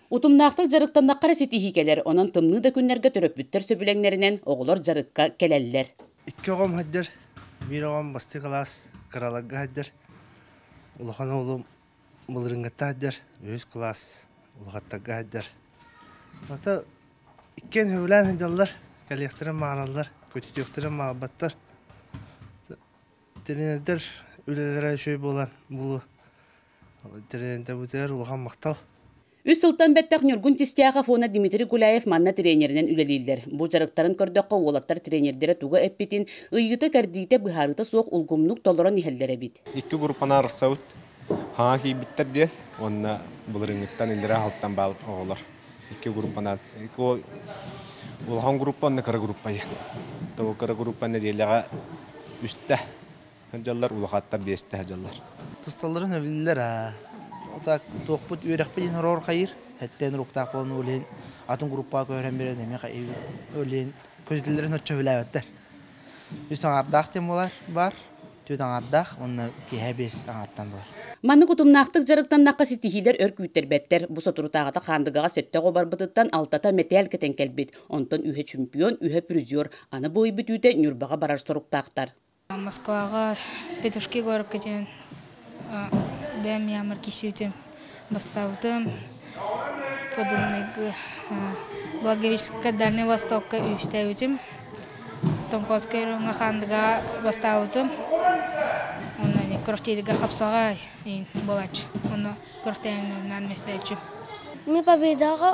Утумнаахтык дьарыктаннахха эрэ ситиһии кэлэр, онон тымныы да күннэргэ төрөппүттэр сөбүлэҥнэринэн оҕолор дьарыкка кэлэллэр. Икки оҕом сылдьар, биир оҕом бастакы кылаас кыраларга сылдьар, улахан оҕолум былырыыҥҥыттан сылдьар, үһүс кылаас улахаттарга сылдьар. Хата иккиэн сөбүлээн сылдьаллар, кэлиэхтэрин баҕараллар, көтүтүөхтэрин баҕарбаттар. Тренердэр үлэлэрэ үчүгэй буолан булу Үс сылтан бэттэх Ньургун Кистяхов уонна Дмитрий Гуляев манна тренеринэн үлэлииллэр. Бу дьарыктарын көрдөххө, уолаттар тренердэрэ туга эппитин, ыйыыта-кэрдиитэ быһаарыыта суох улгумнук толорон иһэллэр эбит. Икки группаны арахсабыт. Хаҥа киирбиттэр диэн уонна былырыыҥҥыттан иллэрээ аһылтан баал оҕолор икки группанан улахан группа уонна кыра группа диэн. Тоҕо кыра группа нэдиэлэҕэ үстэ сылдьаллар улахаттар биэстэ сылдьаллар тусталларын эбиллэр а так туохпут үөрэхпит иһин ороорхайыр хэттэн руктаах буолан өлен атын группаға көһөрөн берен эми хайыбыт өлен көзүтүллэрин оччо хүлээбэттэр үс аҥардаах тем болар бар түөт аҥардаах онна киһэ бес аҥартан бар Манны кутумнаахтык дьарыктаннахха ситиһиилэр өр күүттэрбэттэр. Бу соторутааҕыта Хаандыгаҕа сөттөҕ обарбытыттан алтата мэтээл кэтэн кэлбит. Онтон үһэ чемпион, үһэ призер. Аны бу ый бүтүүтэ Ньурбаҕа барар соруктаахтар. Москваҕа Петушки куоракка диэн бэйэм яамар киирсибитим бастаабытым подданнайга Благовещенскай дальнай востокка үстээбитим Тонкоцкай орооҥҥо Хаандыгаҕа бастаабытым онно квартирыгар хапсаҕай иин буолааччы квартирынан мэстээччим. Мин победаҕа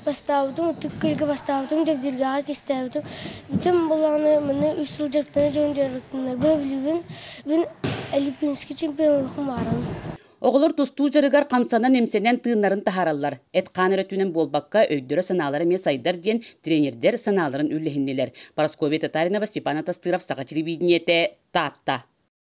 бастаабытым, ытык күлгэ бастаабытым, дьэбдиргэҕэ кистээбитим. Бүтүн былааны маны үс сыл дьарыктана дьон дьарыктанарбы билибин. Бин Олимпийский чемпионатка баарым. Оҕолор тустуу дьарыгар хамсанан-имсэнэн тыыннарын таһаараллар. Эт-хаан өрө түүнэн буолбакка, өйдөрө-санаалара эмиэ сайдар диэн тренердэр санааларын үллэһиннилэр. Парасковья Татаринова, Степан Атастыров, Саха телевидениете, Таатта.